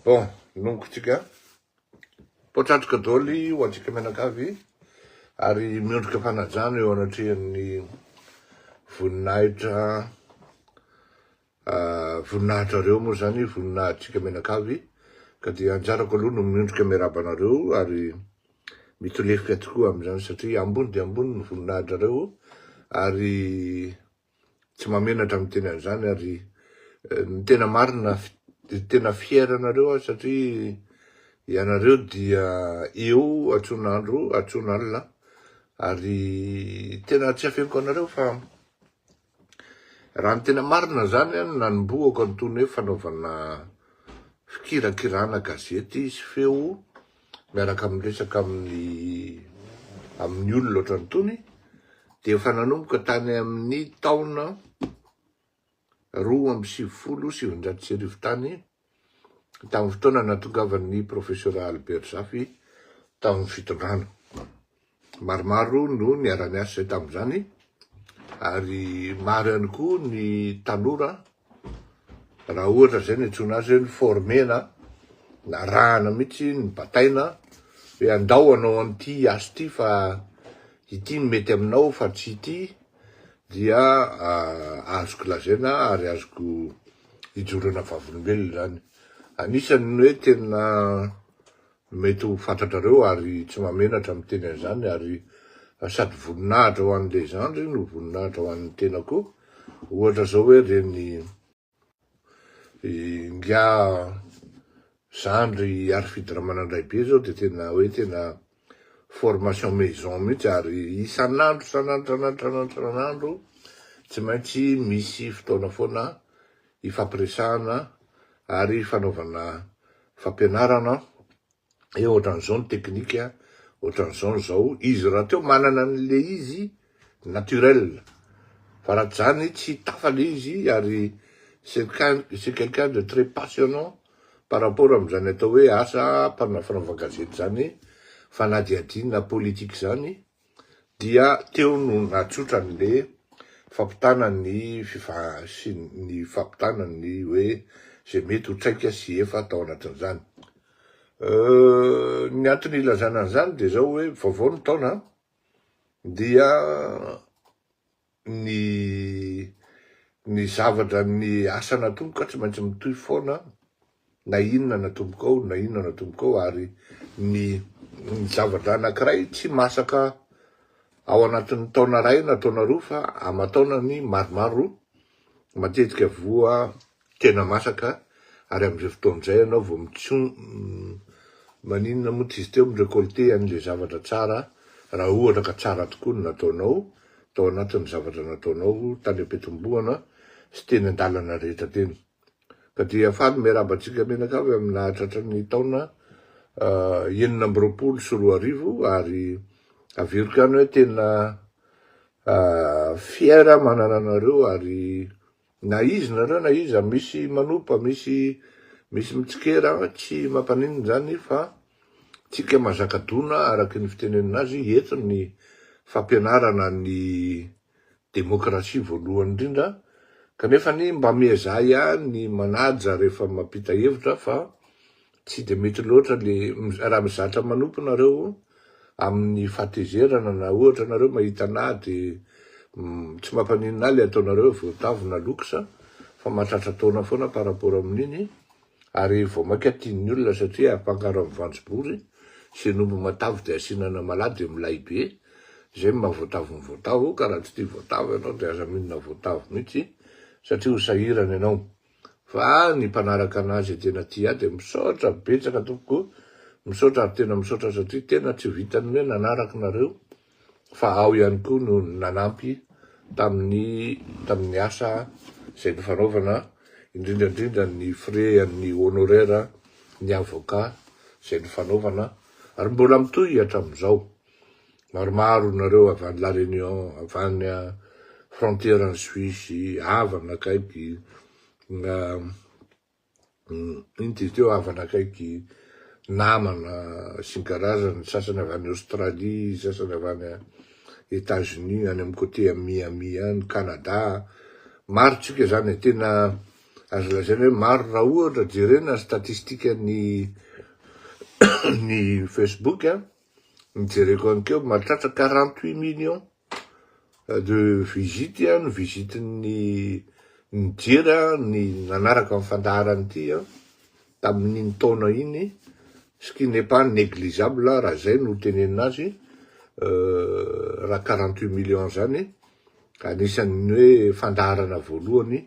Bon, longo tsika. Potratrika doly ho antsika mianakavy ary miondrika fanajana eo anatrehan'ny voninahitra voninahitrareo moa zany voninahitrika mianakavy ka dia anjarako aloha no miondrika miaraba anareo ary mitolefika tokoa amin'izany satria ambony dia ambony ny voninahitrareo ary Tsy mahamenatra miteny an'izany ary ny tena marina tena fier anareo aho satria ianareo dia eo atson'andro atson'alina ary tena tsy afeniko anareo fa raha ny tena marina zany an nanombohako an'itony hoe fanaovana fikirakirana gazety sy feo miaraka miresaka amin'ny amin'ny olona ohatran tony dia efa nanomboka tany amin'ny taona roa amby sivifolo sy sivinjato sy arivo tany tamin'ny fotoana natongavan'ny professeur Albert Zafy tamin'ny fitondrana. Maromaro no niara-niasa izay tamin'izany ary maro ihany koa ny tanora raha ohatra izay ny antsoina azy hoe ny former-na, narahana mihitsy, nibataina hoe andao hanao an'ity asa ity fa ity no mety aminao fa tsy ity dia ah, azoko lazaina ary azoko ijoroana vavolombelona izany. Anisan'ny hoe tena Mety ho fantatrareo ary tsy mahamenatra miteny an'izany ary sady voninahitra ho an'ny Legendre no voninahitra ho an'ny tena koa, ohatra izao hoe reny ingahy zandry Harifidy Ramanandraibe izao dia tena hoe tena formation maison mihitsy ary isan'andro isan'andro isan'andro isan'andro isan'andro tsy maintsy misy fotoana foana ifampiresahana ary ifanaovana fampianarana hoe ohatran'izao ny teknika, ohatran'izao ny zao, izy rahateo manana an'le izy naturel fa raha tsy zany tsy hitafa le izy ary c'est quelqu'un de très passionnant par rapport amin'izany atao hoe asa mpanao fanaovan-gazety zany, fanadihadiana politique zany. Dia teo no natsotrany le fampitana ny sy ny fampitana ny hoe ze mety ho traika sy efa tao anatin'izany. Ny antony ilazana an'izany dia zao hoe vaovao ny taona dia ny ny zavatra ny asa natomboko ka tsy maintsy mitohy foana na inona natomboko ao na inona natomboko ao ary ny ny zavatra anakiray tsy masaka ao anatin'ny taona ray na taona roa fa aman-taonany maromaro matetika voa Tena masaka ary amin'izay fotoana izay ianao vao mitson Maninona moa tsy izy teo mi-recolter an'ilay zavatra tsara raha ohatra ka tsara tokoa ny nataonao tao anatin'ny zavatra nataonao tany am-piatombohana sy teny an-dalana rehetra teny. Ka dia faly miarahaba antsika mianakavy amin'ny nahatratra ny taona enina amby roapolo sy roa arivo ary averiko ihany hoe tena fier aho manana anareo ary Na izy nareo na iza misy manopa misy misy mitsikera tsy mampaninona zany fa tsika mazaka dona araky ny fitenenina azy eto ny fampianarana ny demokrasia voalohany indrindra kanefany mba miezaha ihany ny manaja rehefa mampita hevitra fa Tsy dia mety loatra le raha mizatra manompo nareo amin'ny fahatezerana na ohatra nareo mahita anà de tsy mampaninona le ataonareo voatavo na luxe fa mahatratra taona foana par rapport amin'iny ary vao maika tian'ny olona satria afangaro amin'ny vanjobory sy ny omby matavy de asiana anamalaho de milay be zay no maha voatavo ny voatavo ka raha tsy tia voatavo ianao de aza minina voatavo mitsy satria ho sahirana ianao. fa ny mpanaraka anah zay tena tia ahy dia misaotra betsaka tompoko misaotra ary tena misaotra satria tena tsy vitan'ny hoe nanaraka nareo fa aho ihany koa no nanampy tamin'ny tamin'ny asa zay nifanaovana indrindra indrindra ny frais an'ny honoraire ny avocat zay nifanaovana ary mbola mitohy hatramin'izao Maromaro nareo avy any La Réunion, avy any frontière any Suisse, havana akaiky, ino ty teo havana akaiky, namana sy ny karazany, ny sasany avy any Australie, ny sasany avy any Etats Unis, any amin'ny côté à Miami any, Canada, maro tsika zany e, tena azo lazaina hoe maro raha ohatra jerena ny statistique ny ny Facebook a, ny jereko any keo mahatratra quarante huit millions de visite ny visite ny nijery ny nanaraka ny fandaharana ity tamin'iny taona iny ce qui n'est pas négligeable raha zay no tenenina azy euh, raha quarante huit millions zany anisan'ny hoe fandaharana voalohany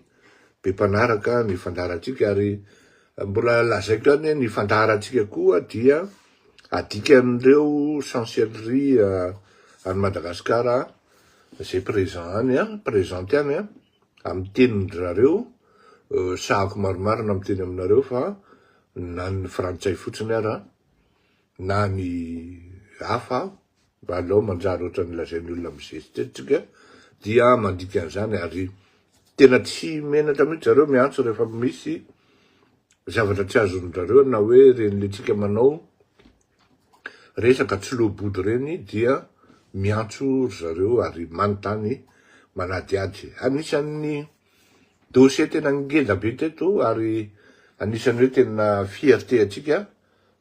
be mpanaraka ny fandaharantsika ary mbola lazaiko ihany ny fandaharantsika koa dia Adikan'ireo chancellerie any Madagasikara izay présent any an, présente any an, amin'ny tenin-dry zareo, sahako marimarina miteny aminareo fa na ny frantsay fotsiny ara, na ny hafa Mba alao manjary ohatran'ny lazain'ny olona mizesitestika dia mandika an'izany ary tena tsy menatra mihitsy zareo miantso rehefa misy zavatra tsy azon-dRareo na hoe ireny letsika manao resaka tsy loa-body ireny dia miantso ry zareo ary manontany manadihady. Anisan'ny dossier tena ngeda be teto ary anisan'ny hoe tena fierté antsika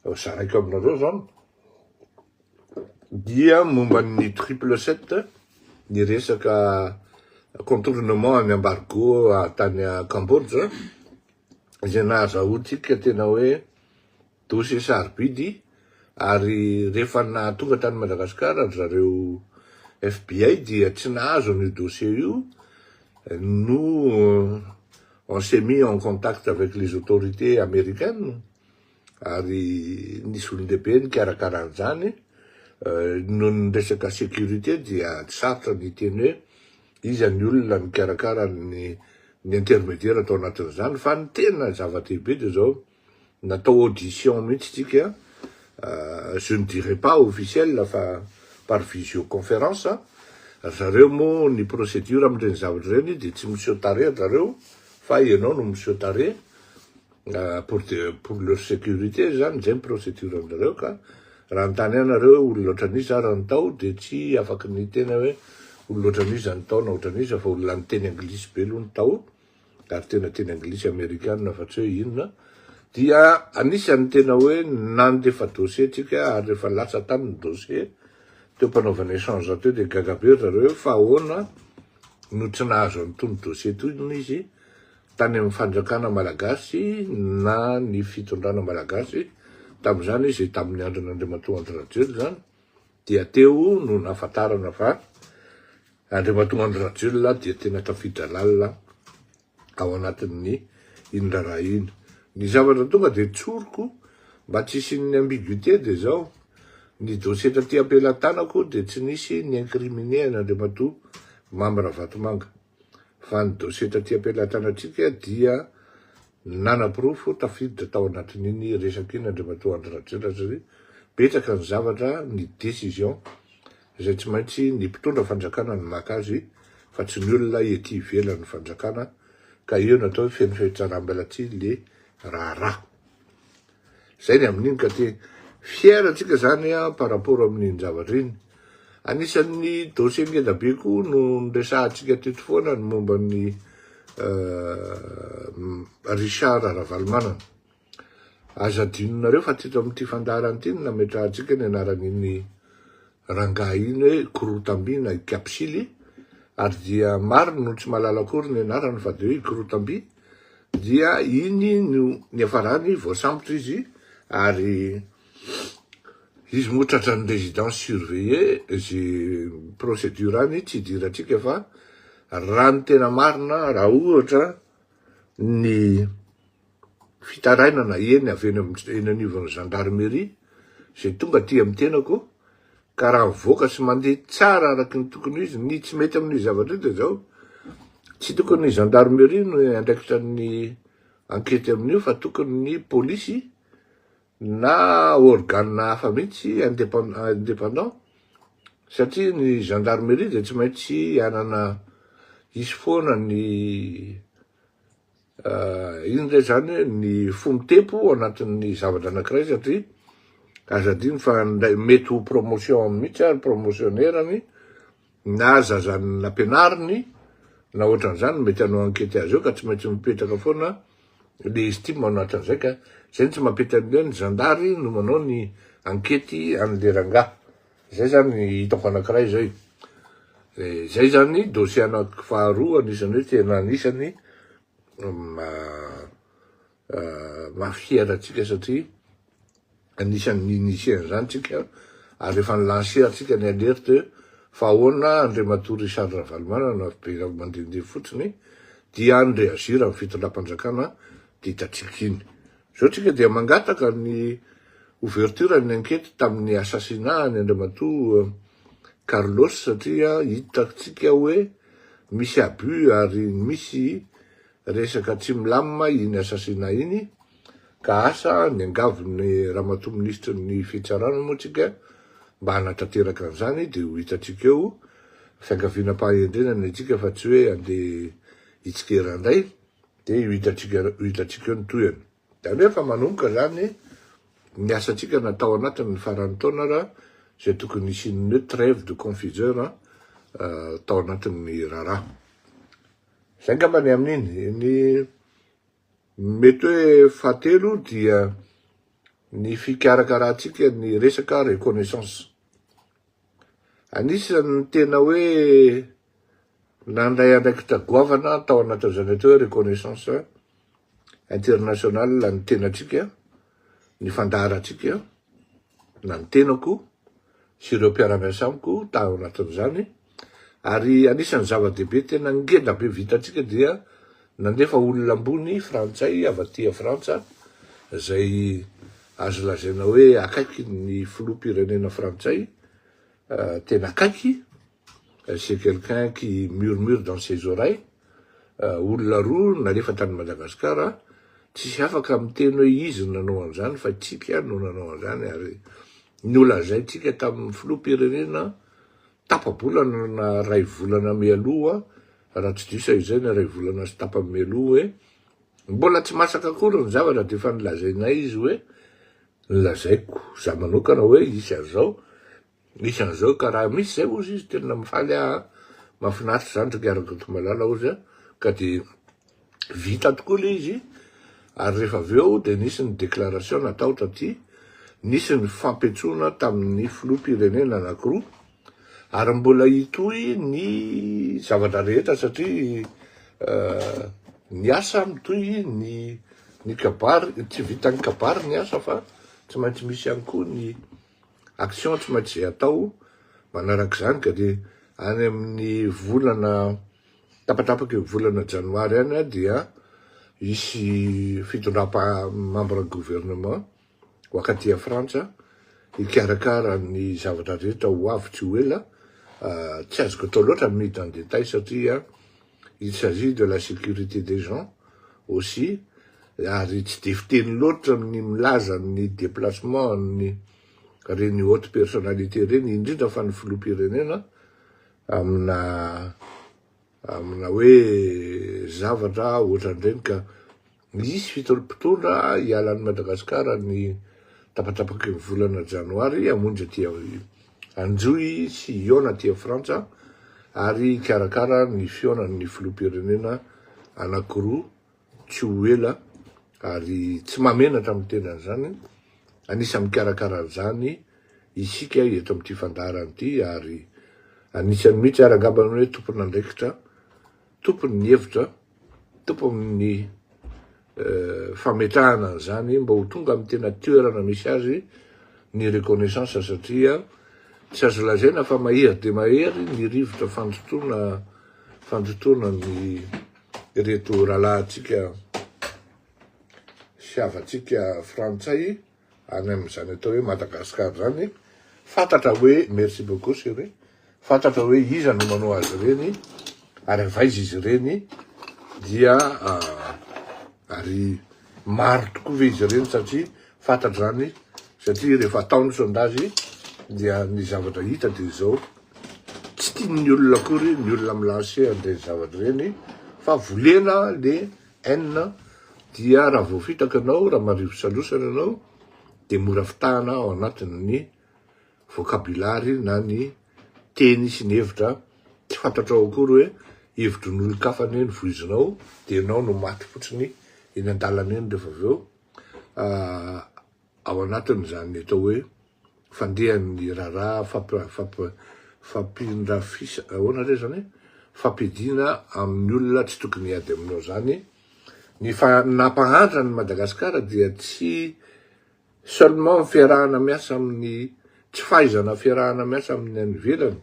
zaraiko aminareo zao dia momba ny triple sept ny resaka contournement any embargo tany Cambodge izay nahazahoantsika tena hoe dossier sarobidy ary rehefa nahatonga tany Madagascar ry zareo FBI dia tsy nahazo an'io dossier io no on s'est mis en contact avec les autorités américaines ary nisy olon-dehibe nikarakara an'izany, noho ny resaka sécurité dia tsy sarotra ny hiteny hoe iza ny olona nikarakara ny ny intermédiaire tao anatin'izany fa ny tena zava-dehibe dia izao, natao audition mihitsy isika, je ne dirai pas officielle fa par visioconférence, ry zareo moa ny procédure amin'ireny zavatra ireny dia tsy miseho tarehy ry zareo fa ianao no miseho tarehy, Pour pour leur sécurité zany zay ny procédure anareo ka raha nitany ahy nareo hoe olona ohatran iza ary ny tao de tsy afaky ny tena hoe olona ohatran iza ny tao na ohatran iza fa olona niteny anglisy be aloha ny tao ary tena teny anglisy amerikana fa tsy hoe inona dia anisany tena hoe nandefa dossier tsika ary rehefa latsa tany ny dossier teo mpanaovana échange teo de gaga be ry zareo hoe fa ahoana no tsy nahazo an'itony dossier itony izy tany amin'ny fanjakana malagasy na ny fitondrana malagasy tamin'izany izy tamin'ny andron' Andriamatoa Andry Rajoelina izany dia teo no nahafantarana fa Andriamatoa Andry Rajoelina dia tena tafiditra lalina ao anatin'ny iny raharaha iny. Ny zavatra tonga dia tsoriko mba tsy hisian'ny ambiguïté dia izao, ny dossier taty am-pelatanako dia tsy nisy ni-incriminer an'Andriamatoa Mamy Ravatomanga. fa ny dossier taty am-pelatanantsika dia nanaporofo tafiditra tao anatin'iny resaka iny Andriamatoa Andry Rajaonatrz ry betsaka ny zavatra ny décision izay tsy maintsy ny mpitondra fanjakana no maka azy fa tsy ny olona ety ivelan'ny fanjakana ka eo ny atao hoe feno fehitsaram-belatsihy le raharaha Zay ny amin'iny ka te fier tsika zany a par rapport amin'iny zavatra iny. Anisan'ny dossier ngeda be koa no niresahantsika teto foana ny momba an'i Richard Ravalomanana. Aza adinonareo fa teto amin'ity fandaharana ity no nametrahantsika ny anaran'iny Rangahy iny hoe Korotamby na i Kapsily ary dia maro no tsy mahalala akory ny anarany fa dia hoe i Korotamby dia iny no niafarany voasambotra izy ary izy moa tratran'ny résidence surveillée izay procédure any tsy idirantsika fa raha ny tena marina raha ohatra ny fitarainana eny avy eny amin'ny eny anivon'ny gendarmerie izay tonga aty amin'ny tenako ka raha mivoaka sy mandeha tsara araky ny tokony ho izy ny tsy mety amin'io zavatra io dia izao tsy tokony ny gendarmerie no andraikitra ny ankety amin'io fa tokony ny polisy na organe hafa mihitsy indépendant satria ny gendarmerie dia tsy maintsy hanana hisy foana ny Inona indray izany hoe ny fo mitempo ao anatin'ny zavatra anankiray satria aza adino fa indray mety ho promotion mihitsy ary promotionner-ny na zazany nampianariny na ohatran'izany mety hanao ankety azy eo ka tsy maintsy mipetraka foana le estime ao anatin'izay ka izay no tsy mampety an'ilay ny zandary no manao ny ankety an'le rangahy. Zay zany ny hitako anakiray zay. De zay zany dossier anaky faharoa anisany hoe tena anisany mahafiera antsika satria anisany ni-initier an'izany tsika ary efa ni-lancer antsika ny alerte fa ahoana Andriamatoa Richard Ravalomanana miverina mandehandeha fotsiny dia ny reagir amin'ny fitondram-panjakana ditantsika iny. Izao tsika dia mangataka ny ouverture ny ankety tamin'ny assassinat ny Andriamatoa Carlos satria hitatsika hoe misy abus ary misy resaka tsy milamina iny assassinat iny ka asa ny angavy ny Ramatoa Minisitry ny Fitsarana moa tsika mba hanatanteraka an'izany dia ho hitatsika eo fiangaviana-pahahendrena ny antsika fa tsy hoe andeha hitsikera indray Dia io hitantsika io hitantsika io ny tohiny. Izany hoe efa manomboka izany ny asantsika na tao anatin'ny faran'ny taona raha izay tokony hisian'ny hoe trève de confiseur tao anatin'ny raharaha. Izay angamba ny amin'iny. Ny mety hoe fahatelo dia ny fikarakarantsika ny resaka reconnaissance. Anisan'ny tena hoe nandray andraikitra goavana tao anatin'izany atao hoe reconnaissance internationale ny tenatsika, ny fandaharantsika, na ny tenako sy ireo mpiara-miasa amiko tao anatin'izany, ary anisan'ny zava-dehibe tena ngeda be vitantsika dia Nandefa olona ambony frantsay avy aty Frantsa izay azo lazaina hoe akaiky ny filoham-pirenena frantsay, tena akaiky, c'est quelqu'un qui murmure dans ses oreilles, olona roa nalefa tany Madagascar, tsisy afaka miteny hoe izy no nanao an'izany fa tsika no nanao an'izany ary nolazaintsika tamin'ny filoham-pirenena Tapa-bolana na iray volana mialoha, raha tsy diso ahy izay, na iray volana sy tapany mialoha hoe, mbola tsy masaka akory ny zavatra dia efa nolazainay izy hoe, nolazaiko izaho manokana hoe hisy an'izao, hisy an'izao ka raha misy izay hozy izy tena mifaly aho an, mahafinaritra izany ry ngaragako malala hozy an, ka dia. Vita tokoa ilay izy ary rehefa avy eo dia nisy ny déclaration natao taty, nisy ny fampentsoana tamin'ny filoham-pirenena anankiroa ary mbola hitohy ny zavatra rehetra satria ny asa mitohy, ny ny kabary, tsy vitan'ny kabary ny asa fa tsy maintsy misy ihany koa ny action tsy maintsy izay atao manarak'izany ka dia any amin'ny volana Tapatapaka io volana janoary any dia hisy fitondram-pamambra gouvernement ho akaty a Frantsa hikarakara ny zavatra rehetra ho avy tsy ho ela, tsy azoko atao loatra ny midina en détail satria il s'agit de la sécurité des gens aussi ary tsy dia fiteny loatra ny milaza ny déplacement an'ny reny haute personnalité reny indrindra fa ny filoham-pirenena amina amina hoe zavatra ohatran'ireny ka hisy fitondra mpitondra hiala an'i Madagasikara ny tapatrapaky ny volana janoary hamonjy aty hanjohy sy hihaona aty Frantsa ary hikarakara ny fihaonan'ny filoham-pirenena anankiroa tsy ho ela ary tsy mahamenatra amin'ny teny an'izany, anisan'ny mikarakara an'izany isika eto amin'ity fandaharana ity ary anisan'ny mihitsy ary angamba ny hoe tompon'andraikitra, tompon'ny hevitra, tompon'ny fametrahana an'izany mba ho tonga amin'ny tena toerana misy azy ny reconnaissance satria tsy azo lazaina fa mahery dia mahery ny rivotra fandotoana fandotoana ny Ireto rahalahintsika sy havantsika frantsay any amin'izany atao hoe Madagascar zany fantatra hoe merci beaucoup chéri fantatra hoe iza no manao azy ireny ary avy aiza izy ireny dia ah, ary maro tokoa ve izy ireny satria Fantatra izany satria rehefa atao ny sondage dia ny zavatra hita dia izao, tsy tian'ny olona akory ny olona mi lancer an'ireny zavatra ireny fa volena le haine dia raha vao fitaka ianao, raha marivo salosana ianao dia mora fitahana ao anatin'ny vocabulary na ny teny sy ny hevitra, tsy fantatrao akory hoe hevitry ny olon-kafa anie no voizinao dia ianao no maty fotsiny eny an-dalana eny rehefa avy eo. ao anatin'izany atao hoe fandehan'ny raharaha fampirafisana, ahoana re izany e? fampiadiana amin'ny olona tsy tokony hiady aminao izany, ny nampahantra an'i Madagasikara dia tsy seulement ny fiarahana miasa amin'ny, tsy fahaizana fiarahana miasa amin'ny any ivelany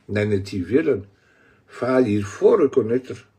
na ny aty ivelany fa il faut reconnaitre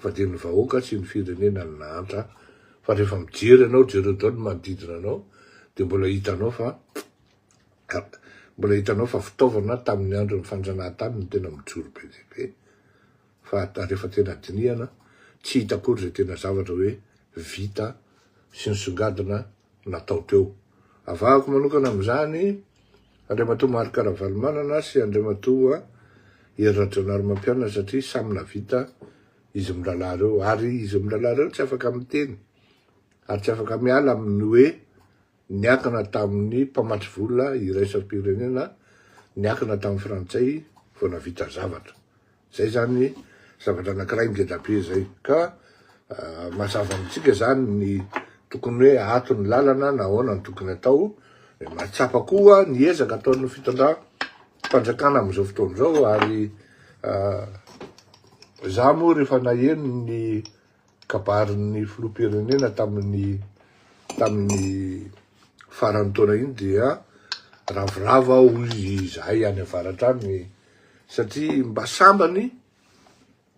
fa dia ny vahoaka sy ny firenena no nahantra fa rehefa mijery anao jereo daholo ny manodidina anao dia mbola hitanao fa mbola hitanao fa fitaovana tamin'ny andron'ny fanjanahantany no tena mijoro be dia be fa rehefa tena dinihana tsy hita akory izay tena zavatra hoe vita sy nisongadina natao teo. Avahako manokana amin'izany Andriamatoa Marc Ravalomanana sy Andriamatoa Hery Rajaonarimampianina satria samy navita izy mirahalahy ireo ary izy mirahalahy ireo tsy afaka miteny ary tsy afaka miala amin'ny hoe niakana tamin'ny mpamatsy vola iraisam-pirenena niakana tamin'ny frantsay vao navita zavatra. Zay zany zavatra anakiray ngeda be zay ka mazava amintsika zany ny tokony hoe ato ny lalana na ahoana ny tokony atao de mahatsapa koa ny ezaka ataon'ny fitondra fanjakana amin'izao fotoana izao ary za moa rehefa naheno ny Kabarin'ny filoham-pirenena tamin'ny tamin'ny faran'ny taona iny dia ravoravo aho hoy izahay any avaratra any satria mba sambany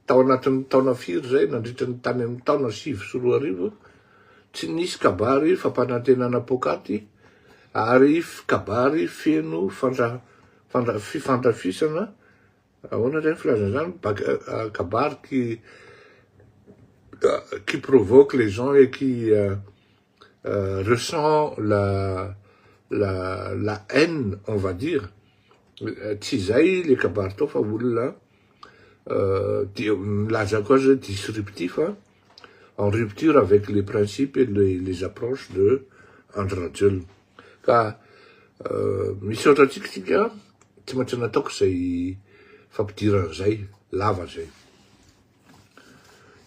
tao anatin'ny taona firy izay nandritra ny tany amin'ny taona sivy sy roa arivo tsy nisy kabary fampanantenana poakaty ary kabary feno fandra, fandra, fifandrafisana Ahoana indray ny filazana izany? Kabary qui, qui provoque les gens et qui ressent la, la, la haine, on va dire. Tsy izay ilay kabary tao fa olona, dia milazako azy hoe disruptif, en rupture avec les principes et les approches de Andry Rajoelina. Ka misaotra antsika tsika, tsy maintsy nataoko izay fampidirana izay, lava izay.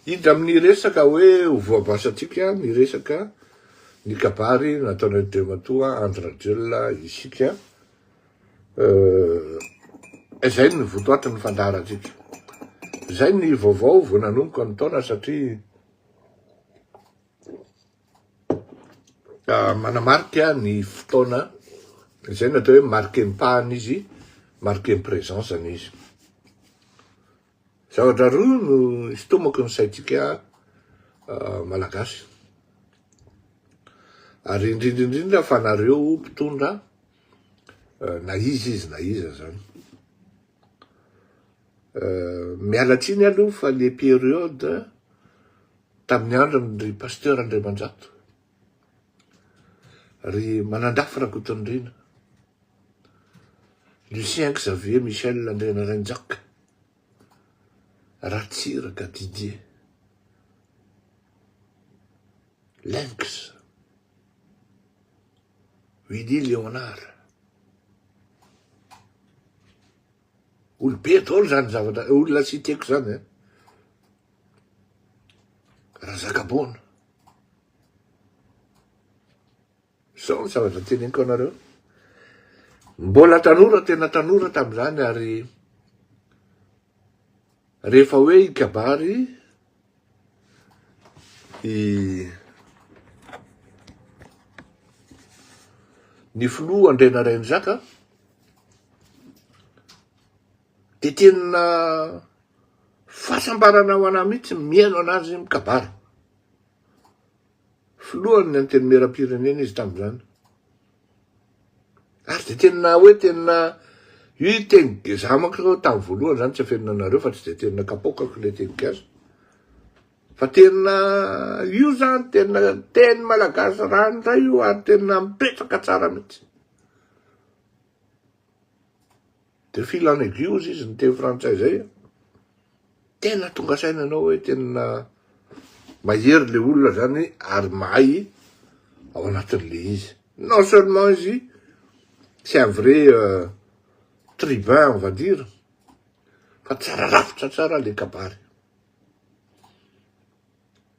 Hiditra amin'ny resaka hoe ho voabasantsika ny resaka ny kabary nataon'Andriamatoa Andry Rajoelina isika. eh, izay ny votoaty ny fandaharantsika izay ny vaovao vao nanomboka ny taona satria ah, manamarika ny fotoana izay natao hoe marqué mpahana izy marqué présence any izy zavatra roa no hitomako ny saintsika ah, malagasy ary indrindra indrindra fa nareo mpitondra na iza izy na iza zany. Miala tsiny aloha fa le période tamin'ny andron'ny ry Pasteur Andriamanjato, ry Manandafy Rakotondriana, Lucien Xavier Michel Andrianarainjaka, Ratsiraka Didier, Lynx. Willy Léonard. Olobe daholo zany zavatra, eh, olona citeko zany eh. Razakaboana. Zao ny zavatra teneniko anareo. Mbola tanora, tena tanora tamin'izany ary Rehefa hoe i kabary i ny filoha Andriana Rainizaka dia tena fahasambarana ho anah mihitsy mihaino an'azy mikabary. Filohan'ny Antenimieram-pirenena izy tamin'izany. Ary dia tena hoe tena io teny za manko aloha tamin'ny voalohany izany tsy afenina anareo fa tsy dia tena kapoakako ilay teny gasy. Fa tena io izany tena teny malagasy ranoray io ary tena mipetraka tsara mihitsy. De fil en aiguille ozy izy niteny frantsay zay a! Tena tonga saina anao hoe tena mahery le olona zany ary mahay ao anatin'le izy. Non seulement izy c'est un vrai tribun on va dire fa tsara rafitra tsara le kabary.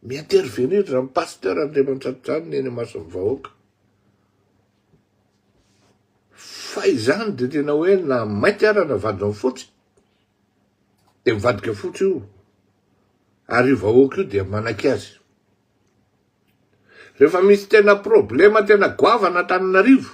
Mi-intervenir zany Pasteur Andriamantsatojanona eny imason'ny vahoaka. Fa izany dia tena hoe na mainty ara na vadinao fotsy dia mivadika fotsy io ary io vahoaka io dia manaiky azy. Rehefa misy tena problema tena goavana Antananarivo,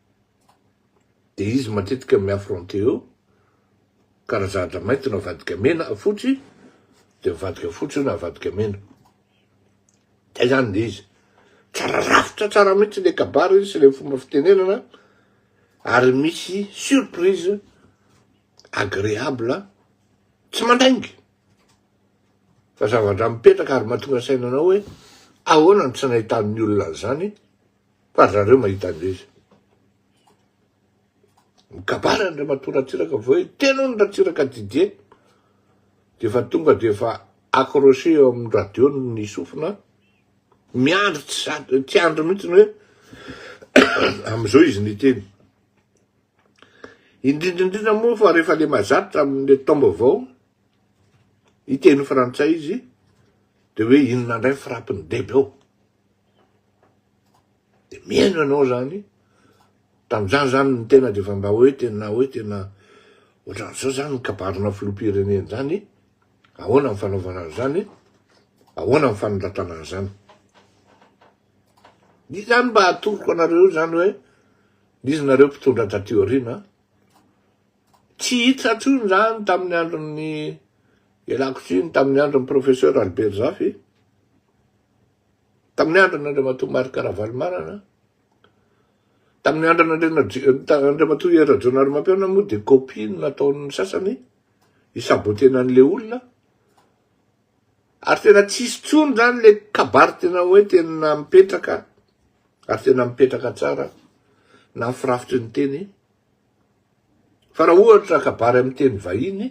dia izy matetika mi-affronter eo ka raha zahatra mainty no avadika mena na fotsy dia mivadika fotsy io na avadika mena dia zany ilay izy tsara rafitra tsara mihitsy ilay kabary sy ilay fomba fitenenana ary misy surprise agréable tsy mandainga fa zava-dra mipetraka ary mahatonga saina anao hoe ahoana no tsy nahitan'ny olona an'izany Fa ry zareo mahita an'izay izy. Mikabary Andriamatoa Ratsiraka vao hoe tena hono Ratsiraka Didier dia efa tonga dia efa accroché eo amin'ny radio ny sofina miandry tsy sady tsy andry mihitsy ny hoe amin'izao izy niteny. Indrindra indrindra moa fa rehefa le mazatra amin'ny taom-baovao hiteny frantsay izy dia hoe inona indray frappe-ny debe ao. Dia mihaino anao zany, tamin'izany zany ny tena dia efa mba hoe tena hoe tena ohatran'izao zany ny kabarina filoham-pirenena zany, ahoana ny fanaovana an'izany, ahoana ny fanondratana an'izany. Dia zany mba atoroko anareo zany hoe izy nareo mpitondra taty aoriana, tsy hita intsony zany tamin'ny andron'ny ialako tsiny tamin'ny andron'ny professeur Albert Zafy, tamin'ny andron'Andriamatoa Marc Ravalomanana, tamin'ny andron'Andriamatoa Hery Rajaonarimampianina moa dia copie no nataon'ny sasany hisaboter an'ilay olona, ary tena tsy hisy intsony izany ilay kabary tena hoe tena mipetraka ary tena mipetraka tsara na ny firafitry ny teny fa raha ohatra kabary amin'ny teny vahiny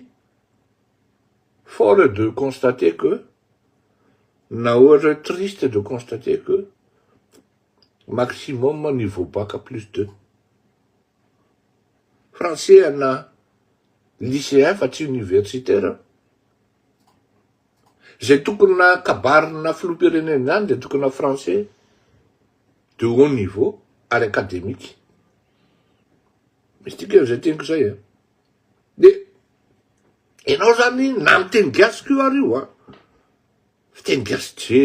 fort est de constater que Na ohatra triste de constater que maximum n'y vaut pas qu'à plus de. Français ana lycéen fa tsy universitaire. Zay tokona kabarina filoham-pirenena zany dia tokona français de haut niveau ary academique. Misy dikany zay teniko zay a. Dia enao zany na miteny gasy ko ary io a. Fiteny gasy tsy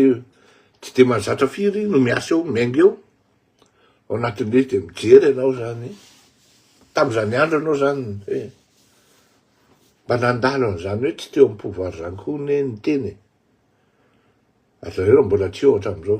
tsy dia mahazatra firy no miasa eo, miainga eo, ao anatin'ilay izy dia mijery ianao izany. Tamin'izany andro ianao izany hoe mba nandalo an'izany hoe tsy teo amin'ny pouvoir izany koa anie ny teny e. Ary zareo raha mbola tsy eo hatramin'izao.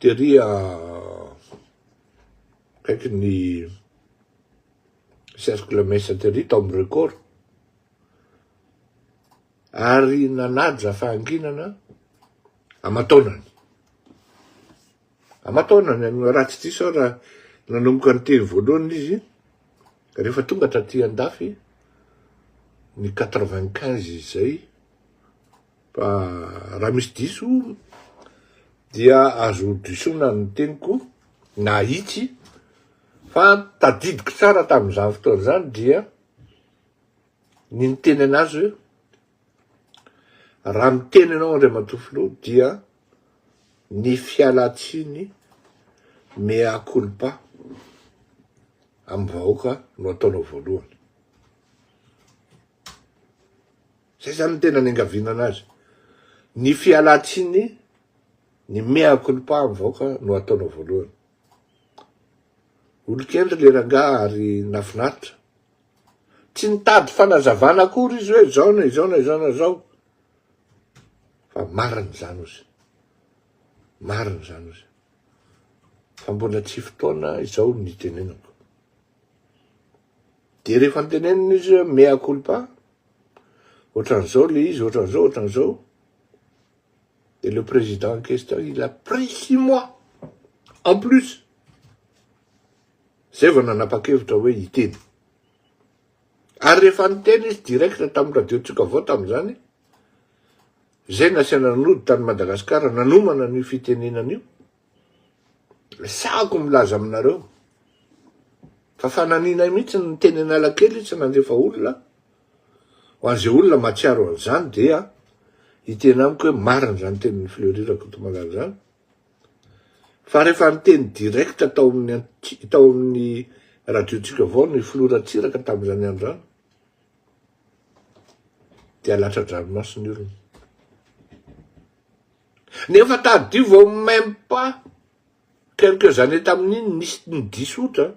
Tery a akaiky ny cercle Mesa tery tao amin'ny record ary nanaja fahanginana aman-taonany. Aman-taonany no raha tsy diso aho raha nanomboka ny teny voalohany izy rehefa tonga taty an-dafy ny quatre-vingt-quinze izay Fa raha misy diso dia azo disoina ny teniko na itsy fa tadidiko tsara tamin'izany fotoana izany dia ny niteny an'azy hoe raha miteny ianao Andriamatoa Filoha dia ny fialan-tsiny mea culpa amin'ny vahoaka no ataonao voalohany. Zay zany ny tena niangaviana anazy. Ny fialantsiny, ny mea culpa amin'ny vahoaka no ataonao voalohany. Olon-kendry le rangaha ary nafinaritra. Tsy nitady fanazavana akory izy hoe zao na izao na izao na izao. Fa marina izany ozy. Marina izany ozy. Fa mbola tsy fotoana izao ny nitenenako. Dia rehefa nitenenina izy hoe mea culpa, Ohatran'izao ilay izy, ohatran'izao, ohatran'izao. Et le président en question, il a pris six mois en plus. Zay vao nanapa-kevitra hoe hiteny. Ary rehefa niteny izy direct tamin'ny radio-tsika avao tamin'izany, zay nasiana nody tany Madagasikara nanomana an'io fitenenana io, Resahako milaza aminareo fa fananianay mihitsy ny miteny analakely tsy nandefa olona, ho an'izay olona mahatsiaro an'izany dia hiteny amiko hoe marina izany tenin'i Fleury Rakotomalala izany fa rehefa niteny direct tao amin'ny tao amin'ny radiotsika vaovao ny filoha Ratsiraka tamin'izany andro izany dia latsa-dranomaso ny olona. Nefa tadidio vao même pas quelques années tamin'iny nisy ny diso otra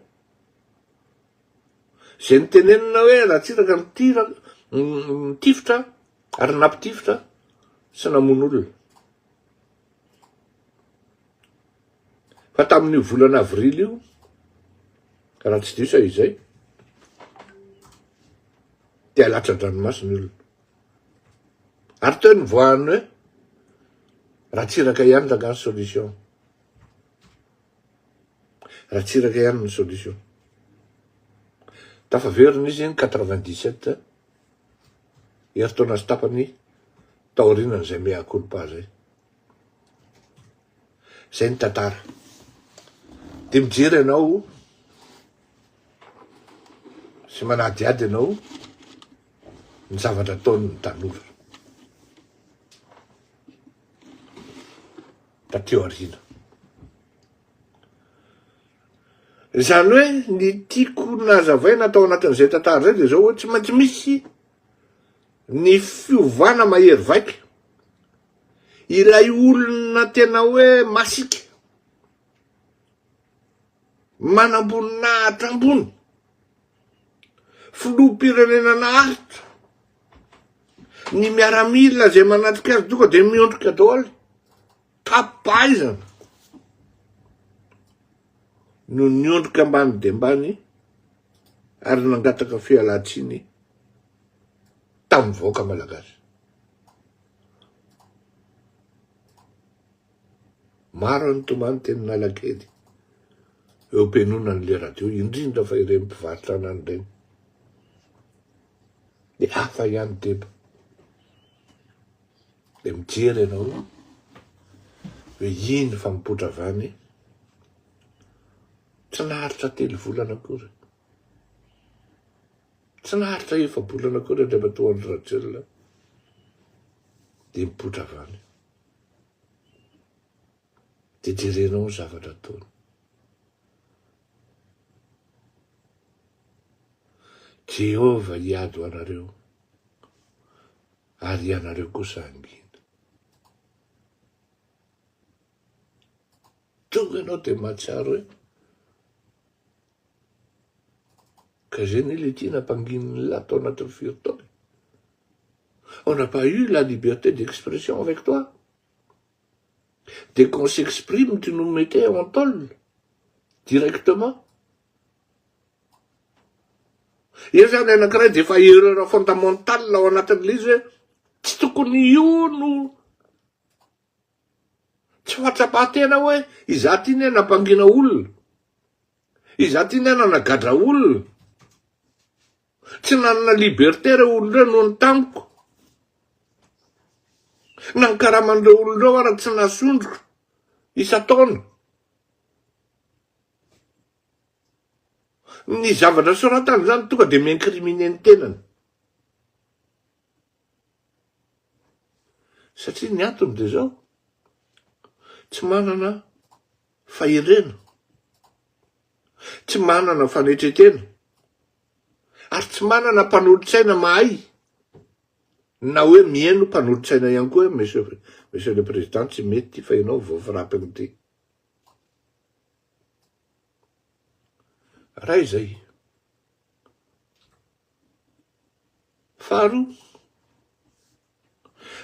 izay nitenenina hoe Ratsiraka nitiraka, nitifitra ary nampitifitra sy namono olona. Fa tamin'io volana avrily io, raha tsy diso aho izay, dia latsa-dranomasina ny olona. Ary teo nivoahan'ny hoe Ratsiraka ihany rangaha ny solution. Ratsiraka ihany ny solution. Tafaverina izy ny quatre vingt dix sept herintaona sy tapany taorianan'izay mea culpa zay. Zay ny tantara. Dia mijery anao sy manadihady anao ny zavatra ataon'ny tanora taty aoriana. Izany hoe ny tiako nazavaina tao anatin'izay tantara izay dia izao hoe tsy maintsy misy ny fiovana mahery vaika. Ilay olona tena hoe masika, manamboninahitra ambony, Filoham-pirenena naharitra, ny miaramila izay manatrika azy tonga dia miondrika daholo, tapaizana no niondrika ambany dia ambany ary nangataka fialan-tsiny tamin'ny vahoaka malagasy. Maro any tomany teny nalakely eo penona ny leradio indrindra fa ireny mpivarotra anany ireny de hafa ihany deba de mijery ianao hoe iny fa mipotra vany tsy naharitra telo volana akory tsy naharitra efa-bolana akory andriamatoa andry rajoelina de mipotra vany Dia jerenao ny zavatra ataony. Jehovah hiady ho anareo, ary ianareo kosa hangina. Tonga ianao dia mahatsiaro hoe Ka zay ne le tiana ampanginin'ny lahy tao anatin'ny firy taona e. On n'a pas eu la liberté d'expression avec toi. Dès qu'on s'exprime, tu nous mettais en tôle directement. Eo zany anankiray dia efa erreur fondamentale ao anatin'ilay izy hoe tsy tokony io no Tsy fahatsapan-tena hoe izaho ity ne nampangina olona, izaho ity ne nanagadra olona, tsy nanana liberté ireo olona ireo noho ny tamiko, na ny karaman'ireo olona ireo ary tsy nasondroko isan-taona. Ny zavatra soratany izany tonga dia mi-incriminer ny tenany. Satria ny antony dia izao, tsy manana fahendrena, tsy manana fanetretena, ary tsy manana mpanolotsaina mahay, na hoe mihaino mpanolotsaina ihany koa hoe monsieur, monsieur le président tsy mety ity fa ianao vao frapping ity. Raha izay, Faharoa,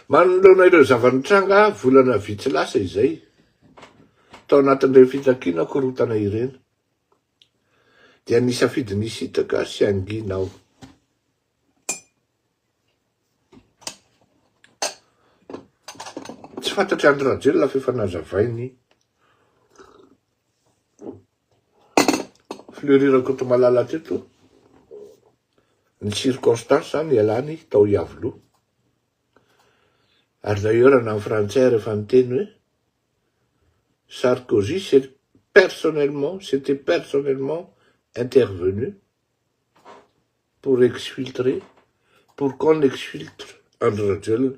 manoloana ireo zava-nitranga volana vitsy lasa izay, tao anatin'ireny fitakiana korontana ireny, dia nisafidy ny hisitraka sy hangina aho. Tsy fantatr'i Andry Rajoelina fa efa nazavainy. Fleury Rakotomalala hatreto ny circonstance nialany tao Iavoloha. Ary d'ailleurs na ny frantsay ary efa niteny hoe Sarkozy s'est personnellement, s'était personnellement intervenu pour exfiltrer, pour qu'on exfiltre Andry Rajoelina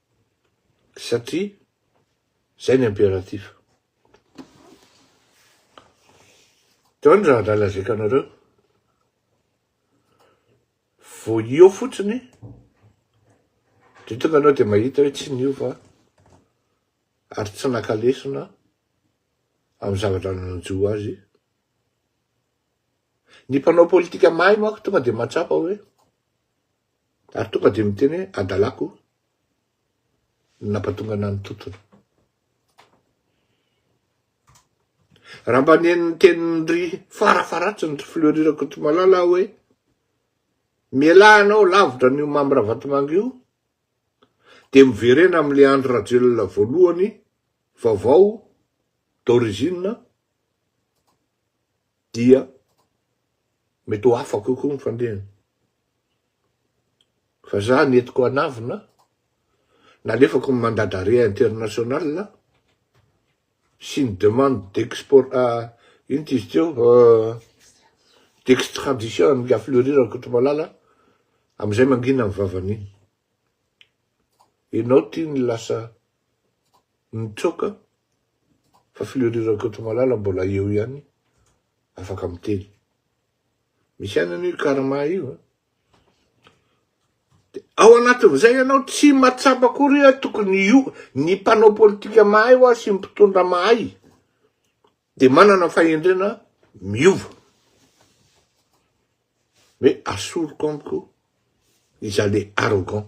Satria zay ny imperatif. Teo ny raha nalazaiko anareo. Vao eo fotsiny de tonga anao de mahita hoe tsy niova ary tsy naka lesona amin'ny zavatra nanjo azy. Ny mpanao politika mahay manko tonga de mahatsapa hoe Ary tonga dia miteny hoe, Adalako no nampatonga anà ny tontolo. Raha mba nen'ny tenin-dry farafaharatsiny ry Fleury Rakotomalala aho hoe, Mialà anao lavitra an'io Mamy Ravatomanga io, dia miverena amin'ilay Andry Rajoelina voalohany, vaovao, d'origine, dia mety ho hafa kokoa ny fandehany. Fa za nentiko hanavona, nalefako ny mandat d'arrêt international sy ny demande d'export ino ty izy teo d'extradition an'i La Fleury Rakotomalala amizay mangina ny vavany iny. Enao ty ny lasa Mitsoaka fa Fleury Rakotomalala mbola eo ihany afaka miteny. Misy ihany anie io karma io a. De ao anatin'izay ianao tsy mahatsapa akory hoe tokony io ny mpanao politika mahay hoa sy ny mpitondra mahay de manana fahendrena miova. Hoe asoriko amiko izaho le arrogant.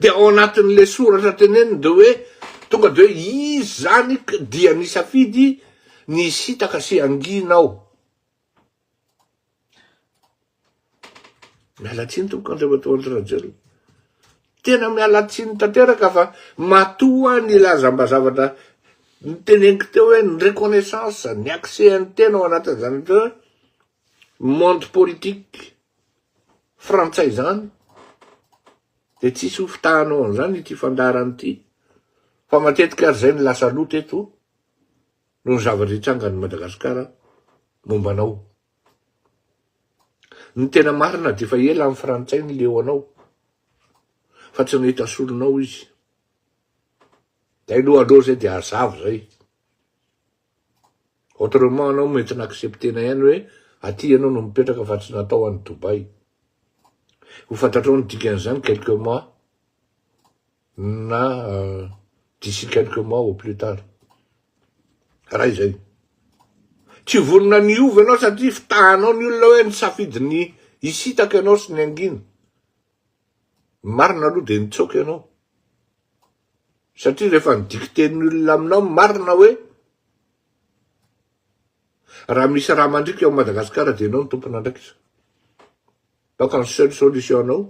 Dia ao anatin'ilay soratra teneniny dia hoe tonga dia hoe izy izany dia nisafidy ny hisintaka sy hangina ao. Miala tsiny tompoko Andriamatoa Andry Rajoelina. Tena miala tsiny tanteraka fa matoa nilaza mba zavatra niteneniko teo hoe ny reconnaissance, ny accès an'ny tena ao anatin'izany hoe monde politique. frantsay izany dia tsisy ho fitahanao an'izany ity fandaharana ity fa matetika ary izay no lasa loto eto noho ny zavatra hitranga any Madagasikara momba anao ny tena marina dia efa ela ny frantsay ny leo anao fa tsy nahita solonao izy dia aloha aloha izay dia hazava izay Autrement anao mety na-accepter-na ihany hoe aty ianao no mipetraka fa tsy natao any Dubai. Ho fantatrao ny dikan'izany quelques mois na d'ici quelques mois au plus tard. Raha izay. Tsy vonona ny hiova ianao satria fitahanao ny olona hoe nisafidy ny hisitaka ianao sy ny hangina. Ny marina aloha dia nitsoaka ianao. Satria rehefa ny dikiten'ny olona aminao ny marina hoe, raha misy rà mandriaka ao Madagasikara dia ianao no tompon'andraikitra. Donc ny seule solution anao,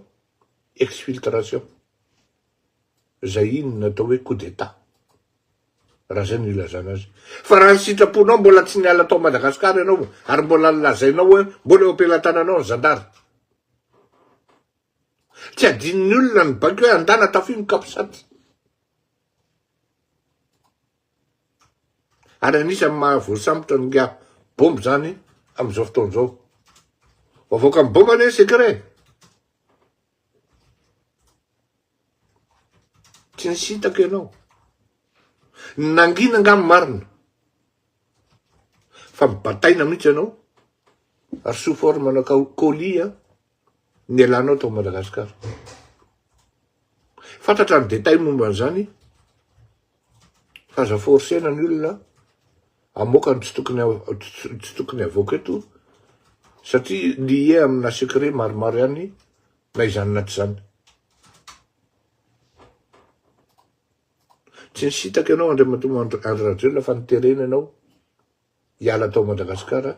exfiltration. Izay iny no atao hoe coup d'Etat. Raha izay no ilazana azy. Fa raha ny sitraponao mbola tsy niala tao Madagasikara ianao, ary mbola lazainao hoe mbola eo am-pelatananao ny zandary, Tsy adinon'ny olona ny baiko hoe andana tafio ny capsat. Ary anisan'ny maha voasambotra ny nga bomba izany amin'izao fotoana izao. Vao avoaka ny bomba anie secret e. Tsy nisy hitako ianao. Nangina nga marina. Fa mibataina mihitsy ianao. Ary sous forme-na colis an. nialanao tao Madagascar. Fantatra ny détail momba an'izany fa aza forcer-na ny olona hamoaka ny tsy tokony tsy tokony havoaka eto satria lié amina secret maromaro ihany na izany na tsy izany. Tsy nisintaka ianao Andriamatoa Andry Rajoelina fa niterena ianao hiala tao Madagasikara,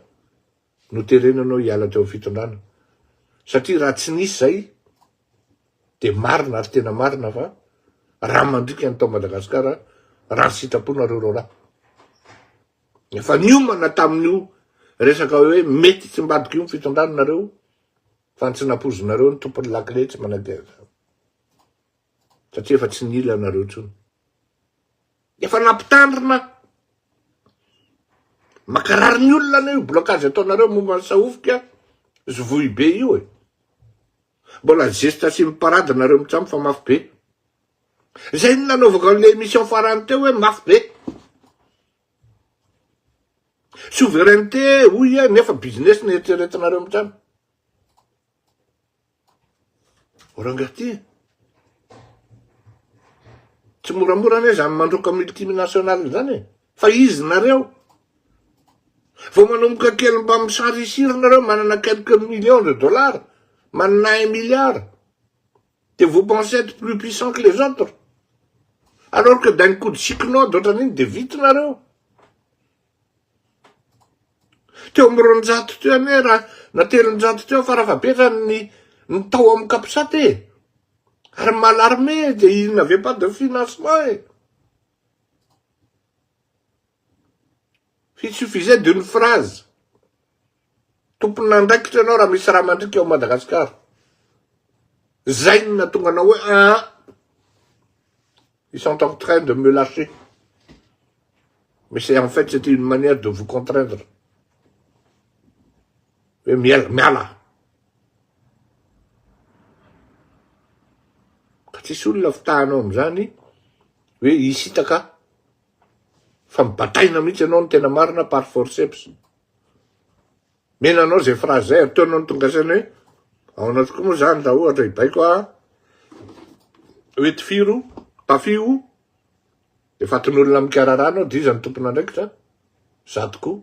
noterena anao hiala teo am fitondrana, satria raha tsy nisy zay dia marina ary tena marina fa raha mandrika ny tao Madagasikara raha ny sitraponareo raharaha. Efa niomana tamin'io resaka hoe mety tsy mbadika io ny fitondrana nareo fa ny tsy nampoizinareo ny tompon'ny lakile tsy manaiky an'izany satria efa tsy nila anareo intsony. Efa nampitandrina makarary ny olona anie io blocage ataonareo momba ny sahofika zovohibe io e. Mbola zesta sy mi parade nareo mitsam fa mafy be. Zay no nanaovako an'le emission farany teo hoe mafy be. Souveraineté hoy iha nefa business no eritreretinareo mitsam. Rangahy ty e. Tsy moramora anie izany mandroaka multinational izany e. Fa izy nareo. Vao manomboka kely mba misarisiry nareo manana quelques millions de dollars, manana un milliard. Dia vous pensez être plus puissant que les autres. Alors que d'un coup de cyclone ohatran'iny dia vita nareo. Teo amin'ny roanjato teo anie raha na telonjato teo fara fahabetrany ny ny tao amin'ny Capsat e. Ary mal armé dia il n'avait pas de financement e. Il suffisait d'une phrase. Tompon'andraikitra ianao raha misy raha mandriaka ao Madagasikara. Zay no nahatonga anao hoe aa ils sont en train de me lâcher. Mais c'est en fait c'est une manière de vous contraindre. Hoe miala, miala. Ka tsisy olona fitahanao amin'izany hoe hisitaka fa mibataina mihitsy ianao ny tena marina par forceps. Mila anao zay phrase zay ataonao ny tonga saina hoe ao anao tokoa moa zany raha ohatra hibaiko ah hoe tifiro tafio de fatin'olona mikarara anao de iza ny tompon'andraikitra za tokoa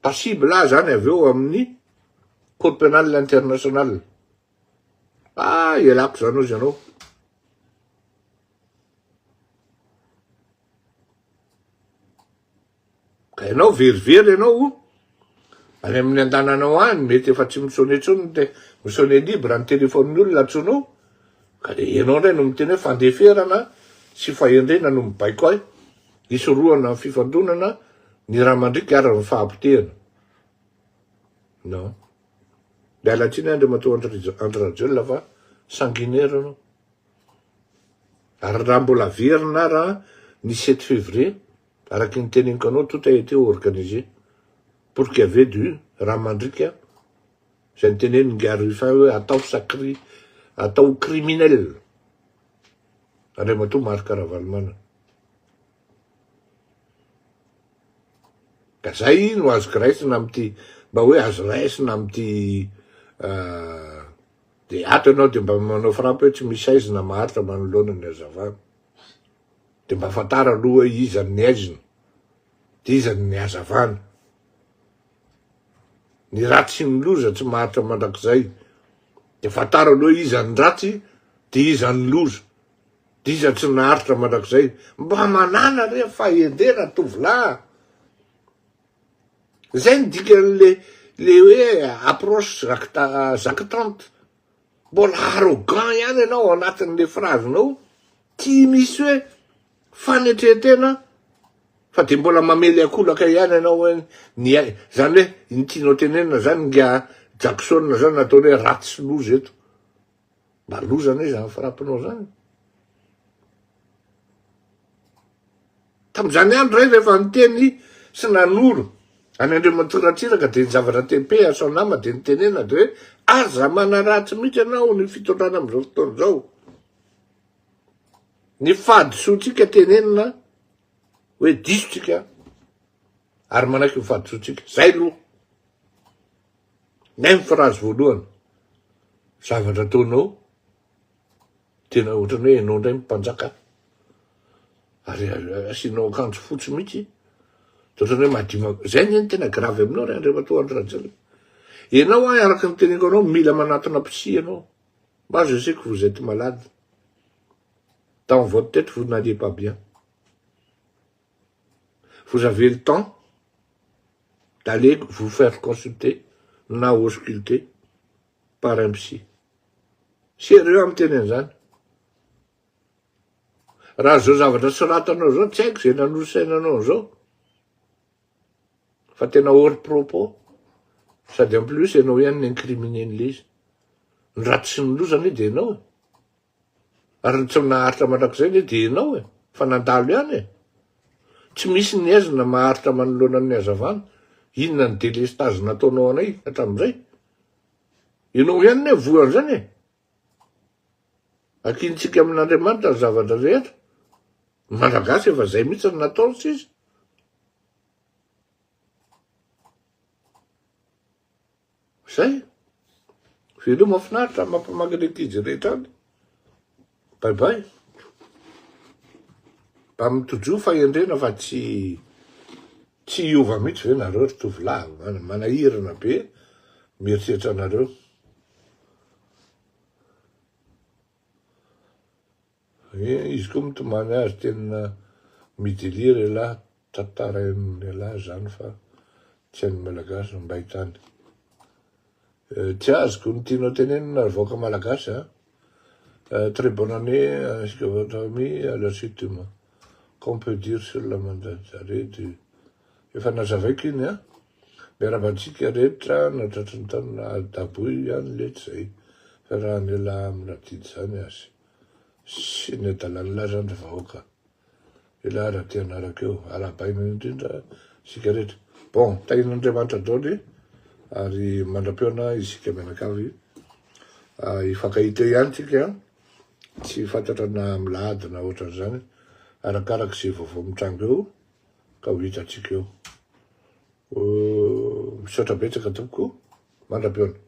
passible ah zany avy eo amin'ny cour pénal international ah ialako zany ozy anao Enao very very enao o! Any amin'ny andananao any mety efa tsy mi-sonne intsony ny te, mi-sonne libre ny telephone-ny olona antsoinao ka dia enao indray no miteny hoe fandeferana sy fahendrena no mibaiko ahy hisorohana ny fifandonana ny ra mandriaka ary ny fahabotehana. Non. Miala tsiny Andriamatoa Andry Andry Rajoelina fa sanguinaire anao. Ary raha mbola very na raha ny sept février Araky ny teneniko anao tout a été organisé pour qu'il y avait du raha mandriaka izay niteneniny Ingahy Rufin hoe atao sacri atao criminel Andriamatoa Marc Ravalomanana ka zay no azoko raisina amity mba hoe azo raisina amity dia ato ianao dia mba manao frappe hoe tsy misy aizina maharitra manoloana ny hazavana. Dia mba fantaro aloha hoe iza ny haizina dia iza ny hazavana. Ny ratsy sy ny loza tsy maharitra mandrakizay. Dia fantaro aloha hoe iza ny ratsy dia iza ny loza. Dia iza tsy naharitra mandrakizay. Mba manàna re fahendrena tovolahy a! Izay no dikan'ilay ilay hoe approche jactante. Mbola arrogant ihany ianao ao anatin'le phrase nao, tsy misy hoe fanetren-tena fa de mbola mamely akolaka ihany ianao hoe ny ai, zany hoe iny tianao tenenina zany nga Jackson zany nataony hoe ratsy sy loza eto, mba loza anie zany frappe-nao zany. Tamin'izany andro izay, rehefa niteny sy nanoro an'i Andriamatoa Ratsiraka dia ny zavatra tepe asao nama dia ny tenenana dia hoe aza manaratsy mihitsy ianao ny fitondrana amin'izao fotoana izao. Ny fahadisoantsika tenenina hoe diso tsika ary manaiky ny fahadisoantsika. Zay aloha. Même phrase voalohany. Zavatra ataonao. Tena ohatrany hoe enao ndray mpanjaka ary asianao akanjo fotsy mihitsy de ohatrany hoe madio zay anie ny tena grave aminao ry Andriamatoa Andry Rajoelina enao ahy araka ny teniko anao mila manatona psy enao moi je sais que vous êtes malade dans votre tête vous n'allez pas bien vous avez le temps d'aller vous faire consulter na ausculter par un psy. Sérieux aho miteny an'izany. Raha izao zavatra soratanao izao, tsy haiko izay nanosaina anao an'izao. Fa tena hors propos. Sady en plus ianao ihany ni-incriminer-n'ilay izy. Ny ratsy sy ny loza anie dia ianao e. Ary ny tsy naharitra mandrakizay anie dia ianao e, fa nandalo ihany e! Tsy misy ny haizina maharitra manoloana ny hazavana, inona ny délestage nataonao anay hatramin'izay? Ianao ihany anie voan'izany e! Akintsika amin'Andriamanitra ny zavatra rehetra, ny Malagasy efa izay mihitsy no nataony sisa. Zay. Veloma mahafinaritra mampamaky ny ankizy rehetra any. Bye bye. Mba mitojo fahendrena fa tsy tsy hiova mihitsy ve nareo ry tovolahy manahirana be mieritreritra anareo. Izy koa mitomany azy tena midelia re lahy tantarain re lahy zany fa tsy an'ny malagasy mba hitany tsy azoko ny tianao tenenina ry vahoaka malagasy a très bonne année ainsi que votre famille à la suite du qu'on peut dire sur la mandatare du efa nazavaiko iny a miarahaba antsika rehetra na tratry ny taona daboy ihany letsy zay fiarahan'ela miradidy zany azy sy ny adalalahy zany ry vahoaka elah raha te hanaraka eo arahabaina indrindra isika rehetra bon tahin'Andriamanitra daoly ary mandra-peona isika mianakavy hifankahita ihany tsika tsy fantatra na milady na ohatran'izany arakaraka izay vaovao mitranga eo ka ho hitantsika eo misaotra betsaka tompoko mandra-peona